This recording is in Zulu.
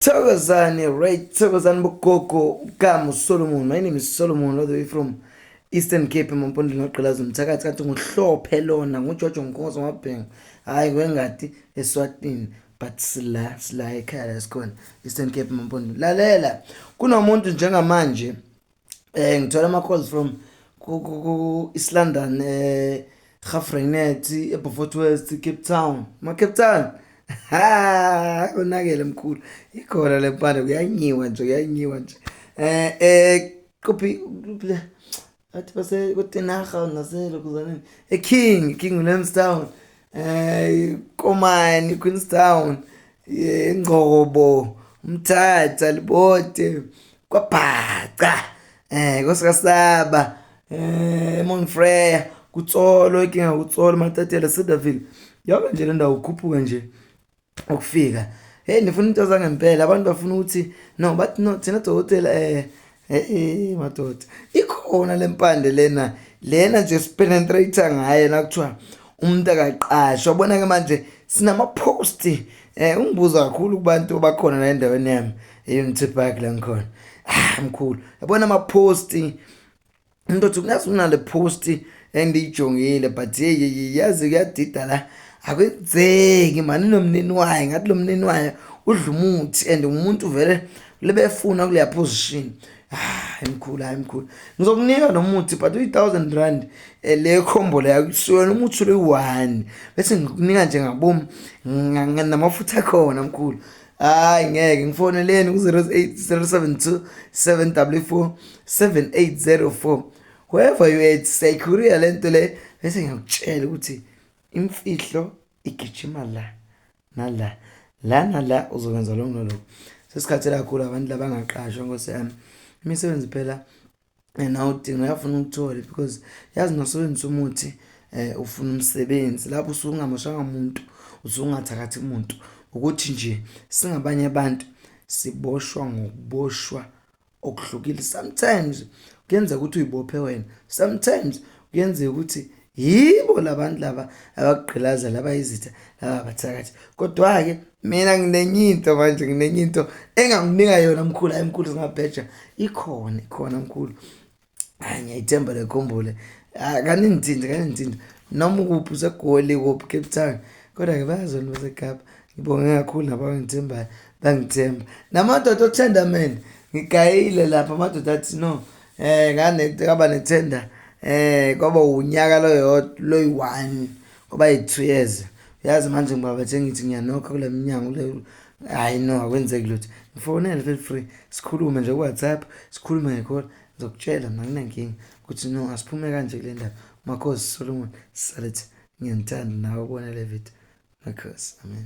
Thokozani right Thokozani bogogo uGamu Solomon my name is Solomon all the way from Eastern Cape emampondweni ogqilaza umthakathi kanti nguhlophe lona nguJojo Nkosi wabhenga hayi kwengadi eSwatini but sila sila ekhaya lesikhona Eastern Cape emampondweni lalela kunomuntu njengamanje eh ngithola ama calls from ku ku ku East London eh Gafrenet eBeaufort West Cape Town ma Cape Town ha konakele mkhulu ikhona lempande kuyanyiwa nje kuyanyiwa nje eh eh kuphi athi base kutenaga naselo kuzaneni e King King Williamstown eh Komani Queenstown ingcobo eh, umthatha libote kwabhaca eh kosikasaba eh Monfreya kutsolo ikinga kutsolo matatela Cedarville yaba nje le ndawo ukhuphuka nje ukufika hey ndifuna into zangempela abantu bafuna ukuthi no but no thina dokotela eh hey madoda ikhona lempande lena lena nje sipenetrate ngaye nakuthiwa umuntu akaqashwa bona ke manje sinama post eh ungibuza kakhulu kubantu abakhona la endaweni yami Unity Park la ngikhona ah mkhulu yabona ama post umuntu othi kungazi unale post endiyijongile but hey yazi kuyadida la akwenzeki mani nomnini wayo ngathi lo mnini wayo udla umuthi and umuntu vele lebefuna kuleya position hayi mkhulu hayi mkhulu ngizokunika lo muthi but uyi-thousand rand eh, le khombolo yakusuyona umuthi uloyi-one bese ngikunika nje ngabomi namafutha akhona mkhulu hayi ngeke ngifoneleni ku-08072 744 7804 whoever you at securiya le nto le bese ngiyakutshela ukuthi imfihlo igijima la nala la nala uzokwenza lokhu noloku sesikhathela kakhulu abantu labangaqashwa nkosi yami imisebenzi phela and awudinga uyafuna ukuthole because yazi nosebenzisa umuthi um ufuna umsebenzi lapho usuke ungamoshanga muntu usuke ungathakathi muntu ukuthi nje singabanye abantu siboshwa ngokuboshwa okuhlukile sometimes kuyenzeka ukuthi uyibophe wena sometimes kuyenzeka ukuthi yibo labantu laba abakugqilaza laba izitha laba bathakathi kodwa-ke mina nginenye into manje nginenye into enganginika yona mkhulu hayi mkhulu zingabheja ikhona ikhona mkhulu hayi ngiyayithemba lekhumbule ah, kaningithinte kaningithinte noma ukuphi usegoli kuphi cape town kodwa-ke bayazona basekapa ngibonge kakhulu nabo abangithembayo bangithemba namadoda othandamene ngigayile lapha amadoda athi no eh ngane kaba nethenda eh kwaba unyaka loyo loyi one kwaba yi2 years uyazi manje ngoba bethe ngithi ngiyanokha kule minyango le hayi no akwenzeki lutho ngifonele feel free sikhulume nje ku WhatsApp sikhulume ngekhola ngizokutshela mina nginenkingi ukuthi no asiphume kanje kule ndaba makhosi Solomon salithi ngiyanithanda nawe ubone le video makhosi amen